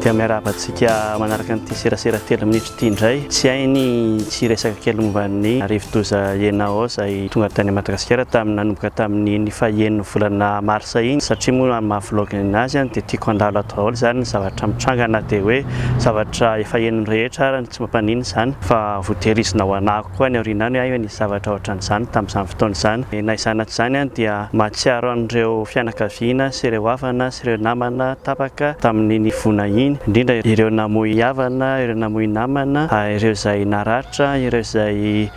Dia miarahaba antsika manaraka an'ity serasera telo minitra ity indray. Tsy hay ny tsy hiresaka kely momba ny rivodoza Yenao izay tonga tany Madagasikara tamin'ny nanomboka tamin'iny fahen'ny volana marsa iny satria moa amin'ny maha vlog azy dia tiako handalo ato daholo izany ny zavatra mitranga na dia hoe zavatra efa henon'ny rehetra ary tsy mampaninona izany fa voatehirizina ho anako. Koa any aoriana any aho nisy zavatra ohatran'izany tamin'izany fotoana izany. Na izany na tsy izany any dia mahatsiaro an'ireo fianakaviana sy ireo havana sy ireo namana tapaka tamin'iny voina iny, indrindra ireo namoy havana, ireo namoy namana, ireo izay naratra, ireo izay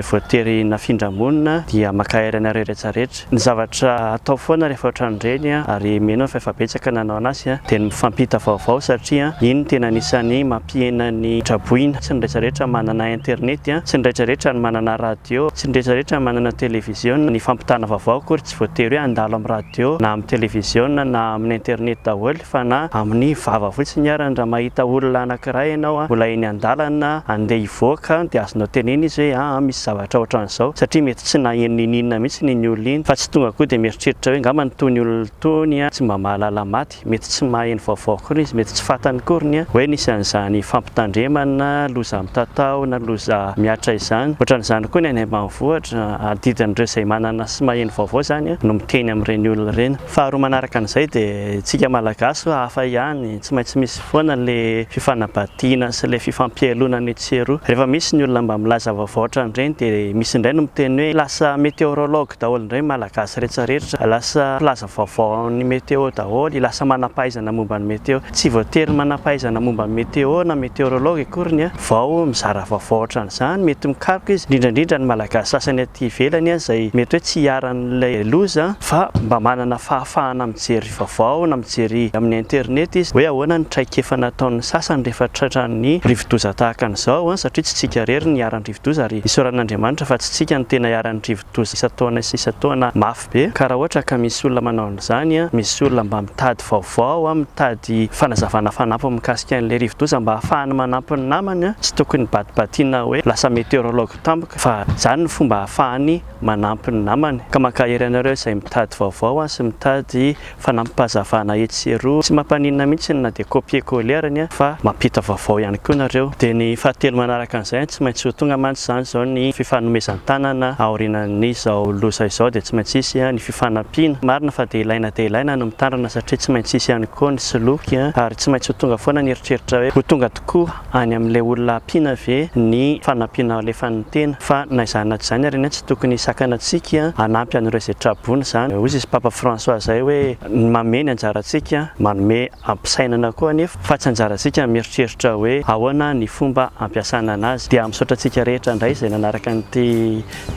voatery nafindra-monina dia mankahery anareo rehetra rehetra. Ny zavatra atao foana rehefa ohatran'ireny ary mino aho fa efa betsaka nanao an'asy dia ny mifampita vaovao satria iny no tena anisan'ny mampihena ny traboina. Tsy ny rehetra rehetra manana internet, tsy ny rehetra rehetra no manana radio, tsy ny rehetra rehetra manana televiziona. Ny fampitana vaovao akory tsy voatery hoe handalo amin'ny radio na amin'ny televiziona na amin'ny internet daholo. fa na amin'ny vava fotsiny ary raha mahita olona anankiray ianao mbola eny an-dalana andeha hivoaka dia azonao tenenina izy hoe aa misy zavatra ohatran'izao satria mety tsy naheno niniana mihitsy iny olona iny fa tsy tonga koa dia mieritreritra hoe angamba itony olona itony tsy mba mahalala maty, mety tsy maheno vaovao akory izy, mety tsy fantany akory ny hoe nisy an'izany fampitandremana, loza mitatao na loza mihatra izany, ohatran'izany koa ny any ambanivohitra, adidin'ireo izay manana sy maheno vaovao izany no miteny amin'ireny olona ireny. Faharoa manaraka an'izay dia isika Malagasy hafa ihany, tsy maintsy misy foana le fifanabadiana sy le fifampiheloana ny etsy sy eroa. Rehefa misy ny olona mba milaza vaovao ohatran'ireny dia misy indray no miteny hoe lasa meteorologue daholo indray ny Malagasy rehetra rehetra, lasa mpilaza vaovao amin'ny météo daholo, lasa manampahaizana momba ny météo. Tsy voatery manampahaizana momba ny météo na meteorologue akoriny an! vao mizara vaovao ohatran'izany, mety mikaroka izy, indrindra indrindra ny Malagasy sasany aty ivelany izay mety hoe tsy iharan'ilay loza fa mba manana fahafahana mijery vaovao na mijery amin'ny internet izy hoe ahoana ny traikefa nataon'ny sasany rehefa tratran'ny rivodoza tahaka an'izao satria tsy tsika irery ny iharan'ny rivodoza ary isaoran'Andriamanitra fa tsy tsika no tena iharan'ny rivodoza isan-taona isan-taona mafy be ka raha ohatra ka misy olona manao an'izany, misy olona mba mitady vaovao, mitady fanazavana fanampiny mikasika an'ilay rivodoza mba ahafahany manampy ny namany, tsy tokony batibatiana hoe lasa meteorologue tampoka fa izany no fomba ahafahany manampy ny namany, ka mankahery anareo izay mitady vaovao sy mitady fanampazavana etsy sy eroa, tsy mampaninona mihitsy na dia copier coller ary anie fa mampita vaovao ihany koa nareo, dia ny fahatelo manaraka an'izay an, tsy maintsy ho tonga mantsy izany izao ny fifanomezan-tanana aorianan'izao loza izao dia tsy maintsy hisy ny fifanampiana, marina fa dia ilaina dia ilaina ny mitandrina satria tsy maintsy hisy ihany koa ny soloky an, ary tsy maintsy ho tonga foana ny eritreritra hoe ho tonga tokoa. any amin'ilay olona ampiana ve ny fanampiana alefan'ny tena fa na izany na tsy izany ary anie tsy tokony hisakana antsika hanampy an'ireo izay tra-boina izany hoy izy Papa François izay hoe ny mamehy ny anjarantsika manome ampisainana koa anefa fa tsy anjarantsika mieritreritra hoe ahoana ny fomba ampiasana anazy dia misaotra antsika rehetra indray izay nanaraka an'ity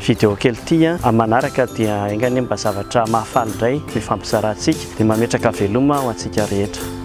video kely ity an manaraka dia enga anie mba zavatra mahafaly indray no hifampizarantsika dia mametraka veloma ho antsika rehetra.